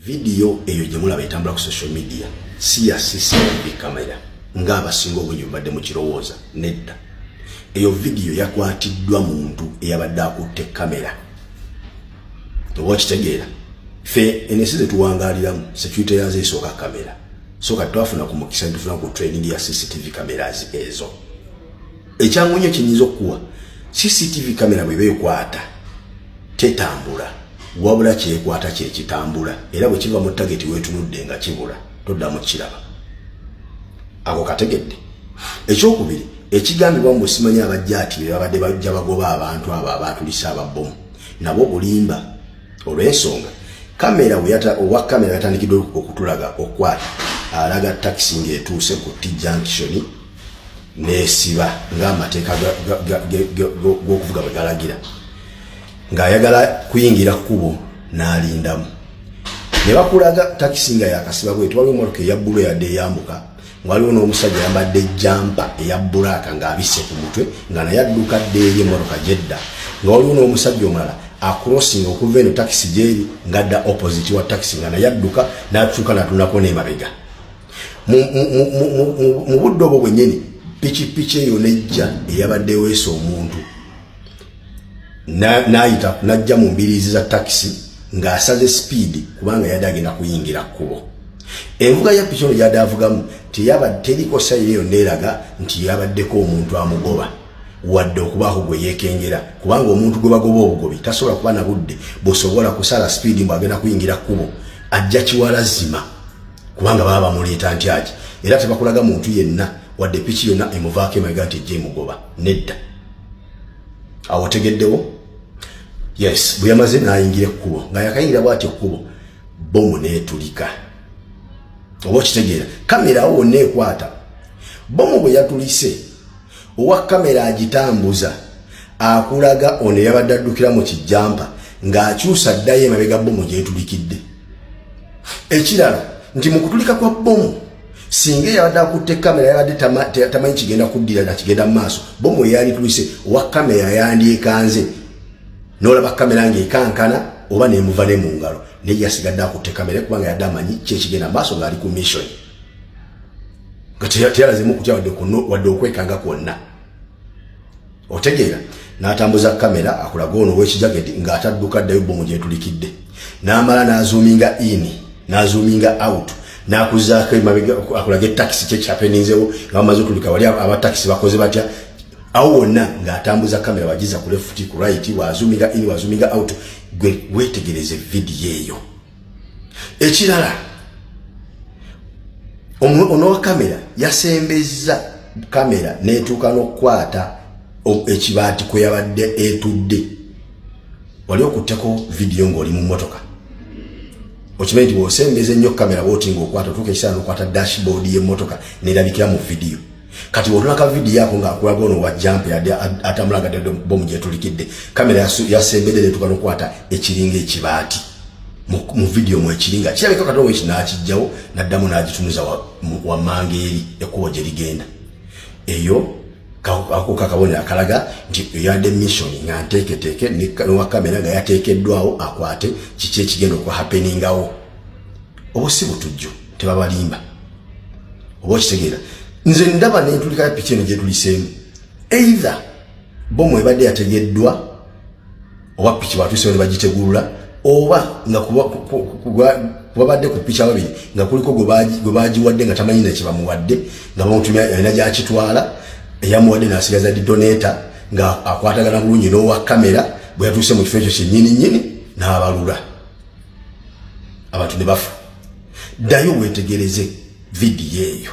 vidiyo eyo gye mulaba etambula ku social media si ya cctv kamera ng'abasinga obungi bubadde mu kirowooza nedda eyo vidiyo yakwatiddwa muntu eyabadde akutte kamera oba okitegeera fe ensi zetuwangaliramu security yazo esooka kamera so kati twafuna ku mukisa netufuna ku training ya cctv cameras ezo ekyangu nnyo kyenyinza okukuwa cctv kamera bweba ekwata tetambula wabula kyekwata kyekitambula era bwe kiva mu tageti wetunudde nga kibula toddamu kukiraba ako kategedde ekyokubiri ekigambibwa mu busimanyi abajja ati bebabadde bajja bagoba abantu abo abaatulisa ababomu nabo bulimba olw'ensonga kamera owa kamera yatandikidde okutulaga okukwata alaga takisi ng'etuuse ku t junction nesiba ng'amateeka g'okuvuga bwe galagira ng'ayagala kuyingira kkubo n'alindamu ne bakulaga takisi nga yakasiba bweti waliwo emotoka eyabbulu eyadde eyambuka waliwo n'omusajja yambadde ejjampa eya bbulaaka ng'abisse ku mutwe nga naye adduka dde eri emotoka gyedda nga waliwo n'omusajja omulala acrossing okuva eno takisi gyeri ngadda opposite wa takisi nga naye adduka natuuka natunako nemabega mu budde obwo bwennyini pikipiki eyo nejja eyabadde weesa omuntu n'ayita n'ajja mu mbiriizi za takisi ng'asaze sipiidi kubanga yadde agenda kuyingira kkubo envuga ya piki ono gyadde avugamu teriko sayiro eyo neeraga nti yabaddeko omuntu amugoba wadde okubaako gwe yeekengera kubanga omuntu gwe bagoba obugobi tasobola kuba na budde busobola kusala sipiidi mbu agenda kuyingira kkubo ajja kiwala zima kubanga baba bamuleeta ntyaki era tebakulaga muntu yenna wadde piki yonna emuvaako emabega nti ejja emugoba nedda awo otegeddewo yes bwe yamaze n'ayingira ekkubo nga yakayingira bwati ekkubo bomu n'etulika oba okitegeera kamera awo wonna ekwata bomu bwe yatulise owa kamera agitambuza akulaga ono yabadde addukira mu kijjampa ng'akyusa addayo emabega bbomu gyetulikidde ekirala nti mu kutulika kwa bbomu singa eyabadde akutte kamera yabadde tamanyi kigenda kuddira na kigenda mu maaso bbomu eyalitulise owa kamera yandyekanze n'olaba kamera ng'ekankana oba nemuva ne mu ngalo naye yasigadde akutte kamera kubanga yadde amanyi kyekigenda mu maaso ng'ali ku missioni nga teyalazemu kutya wadde okwekanga kwonna otegeera n'atambuza kamera akulaga ono owekijageti ng'atadduka ddayo bbomu gyetulikidde n'amala n'azuuminga ini n'azuuminga out n'akuzaako emabega akulaga etakisi kyekyapeninzewo nga bamaze otulika wali abatakisi bakoze batya awo wonna ng'atambuza kamera wagiza ku lefuti ku right wazuuminga ini wazuuminga out gwe weetegereze vidiyo eyo ekirala onowa kamera yasembezza kamera netuuka n'okukwata ekibaati kwe yabadde etudde wali okutteko vidiyo ng'oli mu mmotoka okimanyi nti bwosembeza ennyo kamera bwoti ngaokwata otuuka ekisaala nokwata dashboard y'emmotoka nerabikira mu vidiyo kati wotulaka vidiyo yako ngaakulaga ono wajampa yadde atamulaga dde bomu gyetulikidde kamera yasembedde netuka nokwata ekiringa ekibaati mu vidiyo mu ekiringa kirabika kati oweki nakijjawo naddamu nagitunuza wamanga eri ekkubo gye ligenda eyo akuka kabonero akalaga nti eyadde missoni nga nteeketeeke nowa kamera nga yateekeddwawo akwate kiki ekigenda okuhapeningawo obusi butujju tebabalimba oba okitegeera nze ndaba nentulika ya piki eno gyetuliseemu either bomu ebadde yategeddwa oba piki batusewo ne bagitegulula oba nga kubabadde ku piki ababiri nga kuliko gwe bagiwadde nga tamanyi na kyebamuwadde nga bamutumya alina gyakitwala eyamuwadde nasigaza didoneta nga akwatagana bulungi n'owa kamera bwe yatuuse mu kifo ekyo kyennyini nnyini n'abalula abantu ne bafa ddayo weetegereze vidiyo eyo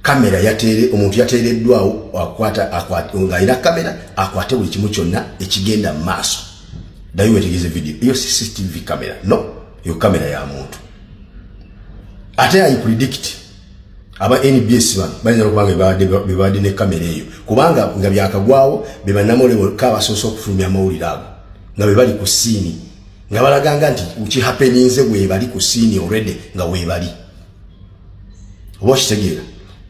kamera yateere omuntu yateereddwawo akwata ng'alina kamera akwate buli kimu kyonna ekigenda mu maaso ddayo weetegereze vidiyo eyo cctv kamera no eyo kamera ya muntu ate ayi predict aba nbs bano bayinza nokuba nga bebabadde ne kamera eyo kubanga nga byakagwawo bebanamolewolka abasoose okufulumya amawulire ago nga bebali ku siini nga balaganga nti ukihapeninze webali ku siini already nga webali oba okitegeera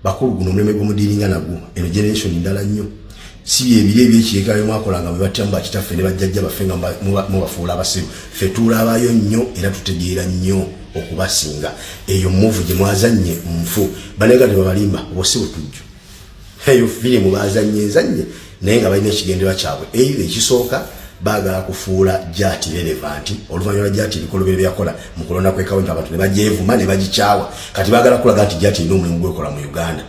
bakulu guno omulembe gwomudiiringa nagwo eno generation ndala nnyo si byebiri ebyekiyekera byemwakola nga bwebatya mu bakitaffe ne bajjajja baffe nga mubafuula abasiru fe tuulaabayo nnyo era tutegeera nnyo okubasinga eyo muvu gyemwazannye nfu banega tebabalimba oba si butujju eyo firimu bazannye nzannye naye nga balina ekigendererwa kyabwe eira ekisooka baagala kufuula jati relevanti oluvannyuma jati ebikolobero byeyakola mu kulonda kwekawenti abantu ne bagyevuma ne bagikyawa kati baagala kulaga nti jati erina omulimu gwekola mu uganda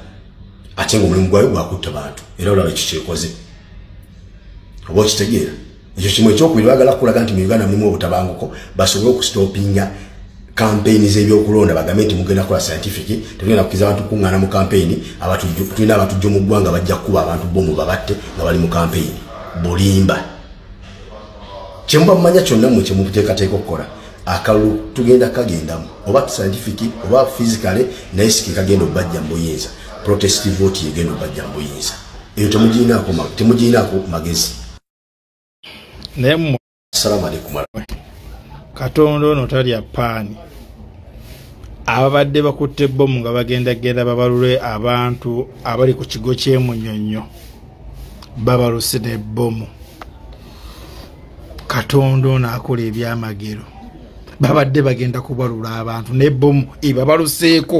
ate nga omulimu gwayo gwakutta bantu era olaba ekikyekoze oba okitegeera ekyo kimu ekyokubiri bagala kukulaga nti mu uganda mulimu obutabanguko basobole okusitopinga kampeyini z'ebyokulonda bagambe nti mugenda kukola scientific tetugenda kukiza abantu kukuŋŋaana mu kampeyini tulina abatujjo mu ggwanga bajja kukuba abantu bomu babatte nga bali mu kampeyini bulimba kyemuba mumanya kyonna mwe kyemuteekateeka okukola akalulu tugenda kagendamu oba scientific oba physicale naye siki kagenda okubajja mu buyinza protest vote yegenda okubajja mu buyinza eyo temugirinaako magezi naye mu assalamu alaikum katonda ono talya paani ababadde bakutte bomu nga bagenda genda babalule abantu abali ku kigo kyemunyonyo babaluse ne bomu katonda ono akola ebyamagero babadde bagenda kubalula abantu ne bomu ebabaluseeko